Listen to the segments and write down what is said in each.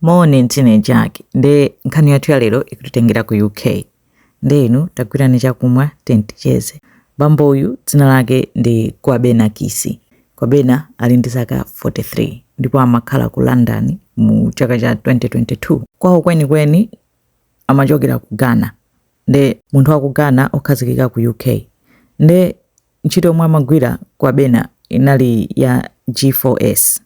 Moni ndine Jake nde nkhani yathu ya lero ikutitengera ku UK nde inu tagwirani chakumwa tiyeni ticheze. Bambo uyu dzina lake ndi Kwabena Kisi. Kwabena ali ndi zaka 43 ndipo amakhala ku London mu chaka cha 2022. Kwawo kwenikweni amachokera ku Ghana nde munthu wa ku Ghana okhazikika ku UK nde Ntchito yomwe amagwira Kwabena inali ya G4S.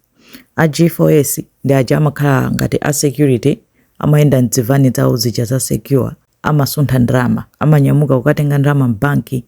A G4S ndi aja amakhala ngati a security, amayenda m'dzivani dzawo zija za Secure, amasuntha ndalama, amanyamuka kukatenga ndalama m'banki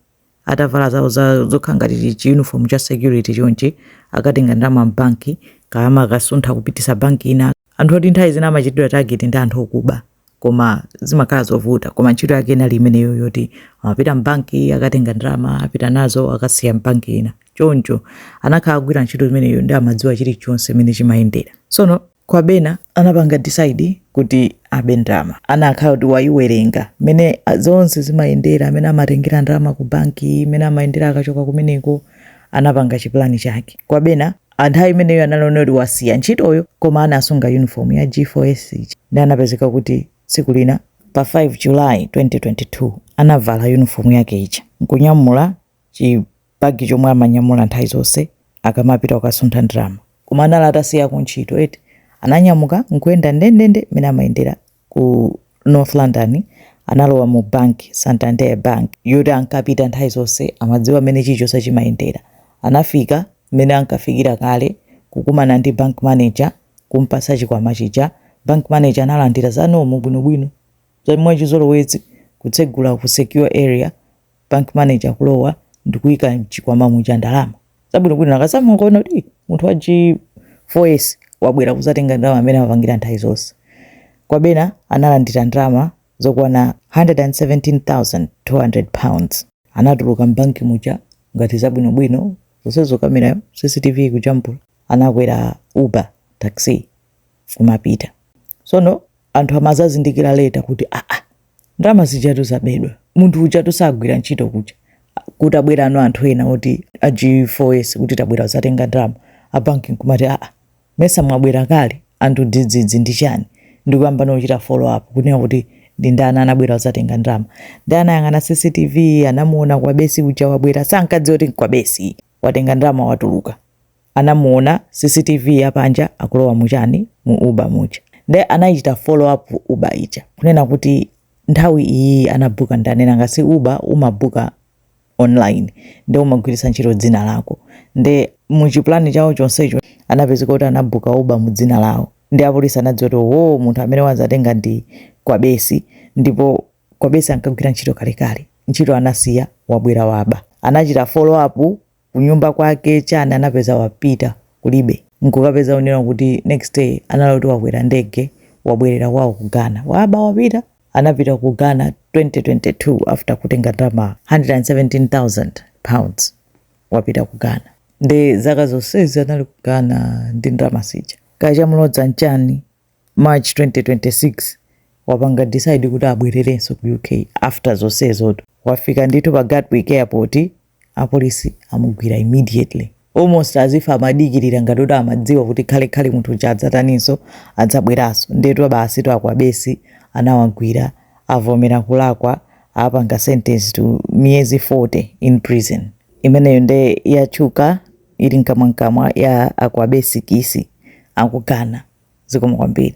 atavala zawo za zokhala ngati chi uniform cha security chonchi, akatenga ndalama m'banki, kaya amakasuntha kupititsa banki ina. Anthu oti nthawi zina amachitidwa target ndi anthu okuba. koma zimakhala zovuta koma ntchito yake inali imeneyo yoti amapita mbanki akatenga ndalama apita nazo akasiya mbanki ina choncho anakhala kugwira ntchito imeneyo ndi amadziwa chilichonse imene chimayendera sono Kwabena anapanga decide kuti abe ndalama anakhala kuti wayiwerenga mene zonse zimayendera mene amatengera ndalama ku banki mene amayendera akachoka kumeneko anapanga chipulani chake Kwabena a nthawi imeneyo anali woti wasiya ntchitoyo koma anasunga yunifomu ya G4S ija ndi anapezeka kuti tsiku lina pa 5 July 2022 anavala yunifomu yake ija n'kunyamula chibagi chomwe amanyamula nthawi zonse akamapita kukasuntha ndalama koma anali atasiya kuntchito eti ananyamuka n'kuyenda ndendende mmene amayendera ku North London analowa mu bank, Santander Bank, yoti ankapita nthawi zonse amadziwa mmene chilichonse chimayendera. Anafika mmene ankafikira kale kukumana ndi bank manager kumpatsa chikwama chija. Bank manager analandira za normal bwinobwino za mwachizolowezi kutsegula ku secure area bank manager kulowa ndikuika mchikwama muja ndalama zabwinobwino akazamaona kuti "Ih, munthu wa g4s wabwera kuzatenga ndalama mmene amapangira nthawi zonse kwabena analandira ndalama zokwana 117,200 pounds anatuluka mbanki muja ngati zabwinobwino zonsezo kamerayo cctv kujambula anakwera uber taxi kumapita sono anthu amazazindikira later kuti aa ah, ah, ndalama zijatu zabedwa munthu ujatu sagwira ntchito kuja kuti abwerano anthu ena oti a g4s kuti tabwera kuzatenga ndalama abanki nkumati aa ah, mesa mwabwera kale anthu dzidzidzi ndi chani ndikuyamba no chita follow up kunena kuti ndi ndani anabwera kuzatenga ndalama ndi anayang'ana cctv anamuona kwabesi uja wabwera sankadziwa kuti nkwabesi watenga ndalama watuluka anamuona cctv ya panja akulowa mu chani mu uber muja nde anaichita follow up uber ija kunena kuti nthawi iyiyi anabuka ndani nanga si uber umabuka online nde umagwiritsa ntchito dzina lako nde mu chipulani chawo chonsecho anapezeka kuti anabuka uber mu dzina lawo ndi apolisi anadziwa kuti wo munthu amene wadzatenga ndi kwabesi ndipo kwabesi ankagwira ntchito kalekale ntchito anasiya wabwera waba anachita follow up kunyumba kwake chani anapeza wapita kulibe nkukapeza kunena kuti next day anali kuti wakwera ndege wabwerera kwawo ku Ghana waba wapita anapita ku Ghana 2022 after kutenga ndalama 117,000 pounds wapita ku Ghana nde zaka zonsezi anali ku Ghana ndi ndalama zija kaya chamulodza nchani March 2026 wapanga decide kuti abwererenso ku UK after zonsezotu wafika ndithu pa Gatwick airport apolisi amugwira immediately almost as if amadikirira ngati kuti amadziwa kuti khale khale munthu uja adzataninso adzabweranso ndetu basitu akwabesi anawagwira avomera kulakwa apanga sentence to miyezi 40 in prison imeneyo nde yatchuka ili mkamwamkamwa ya akwabesi kisi aku Ghana zikomo kwambiri